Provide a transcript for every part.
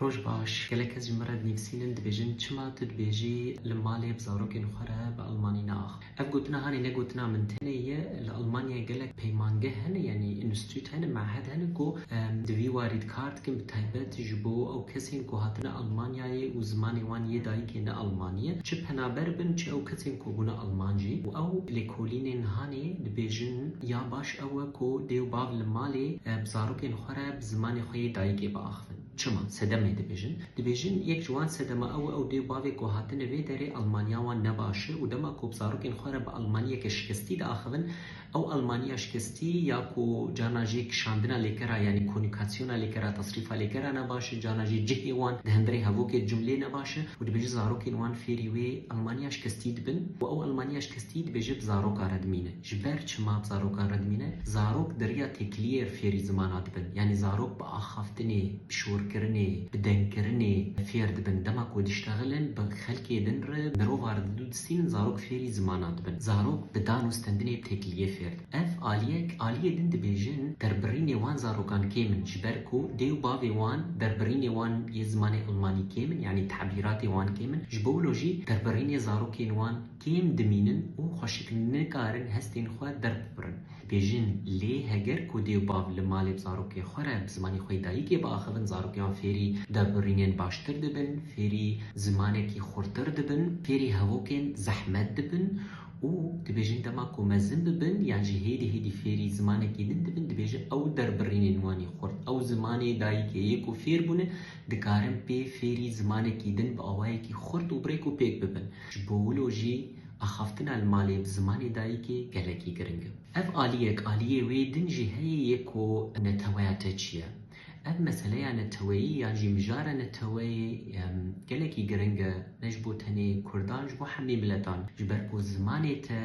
Roj baş, gelek kes ji min re dinivîsînin, dibêjin çima tu dibêjî li malê bi zarokên xwe re bi elmanî naax. Ev gotina hanê ne gotina min tenê ye, li Elmanyayê gelek peymangeh hene yanî înstîtût hene, me'hed hene ku di vî warî dikar dikin bi taybet ji bo ew kesên ku hatine Elmanyayê û zimanê wan yê dayikê ne elmanî ye, çi penaber bin çi ew kesên ku bûne elman jî û ew lêkolînên hanê dibêjin ya baş ew e ku dê û bav li malê bi zarokên xwe re bi zimanê xwe yê dayikê biaxivin. Çima? Sedemê dibêjin. Dibêjin yek ji wan sedema ew e û dê bavê ku hatine vê derê Almanya wan ne baş e û dema ku bi zarokên xwe re bi Almanyeke şikestî diaxivin, ew Almanya şikestî ya ku carna jî kişandina lêkera yanî konîkasyona lêkera, tasrîfa lêkera ne baş e, carna jî cihê wan di hemberî hevokê di cumleyê ne baş e û dibêje zarokên wan fêrî wê Almanya şikestî dibin û ew Almanya şikestî dibêje bi zaroka re dimîne. Ji ber çima zarokan re dimîne? Zarok diriya têkiliyê re fêrî zimana dibin. Yanî zarok bi axaftinê, bi şorkirinê, bi dengkirinê fêr dibin. Dema ku diştexilin bi xelkê din re, mirovan re didu distînin zarok fêrî zimana dibin. Zarok bi dan û stendinê bi têkiliyê fêr dibin. Ev aliyek aliyê din dibêjin derbirînê wan zarokan kêm in. Ji ber ku dê û bavê wan derbirînê wan yê zimanê elmanî kêm in, yanî tabîratê wan kêm in. Ji bo wilo jî derbirînê zarokên wan. Kêm dimînin û xweşik nikarin hestên xwe derbibrin. Dibêjin lê heger ku dê û bav li malê bi zarokê xwe re bi zimanê xwe yê dayîkê biaxivin zarokên wan fêrî derbirînên baştir dibin, fêrî zimanekî xurtir dibin, fêrî hevokên zehmet dibin û dibêjin dema ku mezin bibin yan jî hêdî hêdî fêrî zimanekî din dibin dibêjin ew derbirînên wan ê xurt ew zimanê dayîkê yê ku fêr bûne dikarin pê fêrî zimanekî din bi awayekî xurt û bi rêk û pêk bibin. Ji bo wilo jî axaftina li malê bi zimanê dayikê gelekî giring e. Ev aliyek aliyê wê din jî heye yê ku neteweya te çi ye. Ev meseleya neteweyî yan jî mijara neteweyê gelekî giring e ne ji bo tenê kurdan ji bo hemî miletan. Ji ber ku zimanê te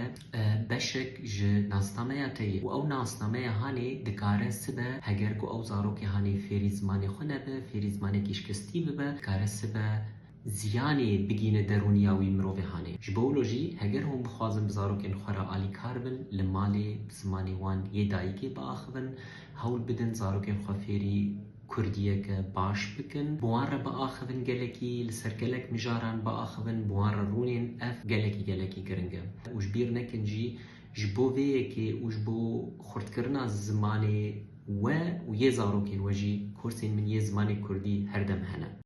beşek ji nasnameya te ye û ew nasnameya hanê dikare sibe heger ku ew zarokê hanê fêrî zimanê xwe nebe, fêrî zimanekî şikestî bibe dikare sibe. Ziyanê bigîne derûniya wî mirovê hanê. Ji bo wilo jî heger hûn bixwazin bi zarokên xwe re alîkar bin, li malê bi zimanê wan yê dayikê biaxivin, hewl bidin zarokên xwe fêrî kurdiyeke baş bikin, bi wan re biaxivin gelekî, li ser gelek mijaran biaxivin, bi wan re rûnên ev gelekî gelekî giring e. Û ji bîr nekin jî ji bo vê yekê û ji bo xurtkirina zimanê we û yê zarokên we jî, kursên min yê zimanê kurdî her dem hene.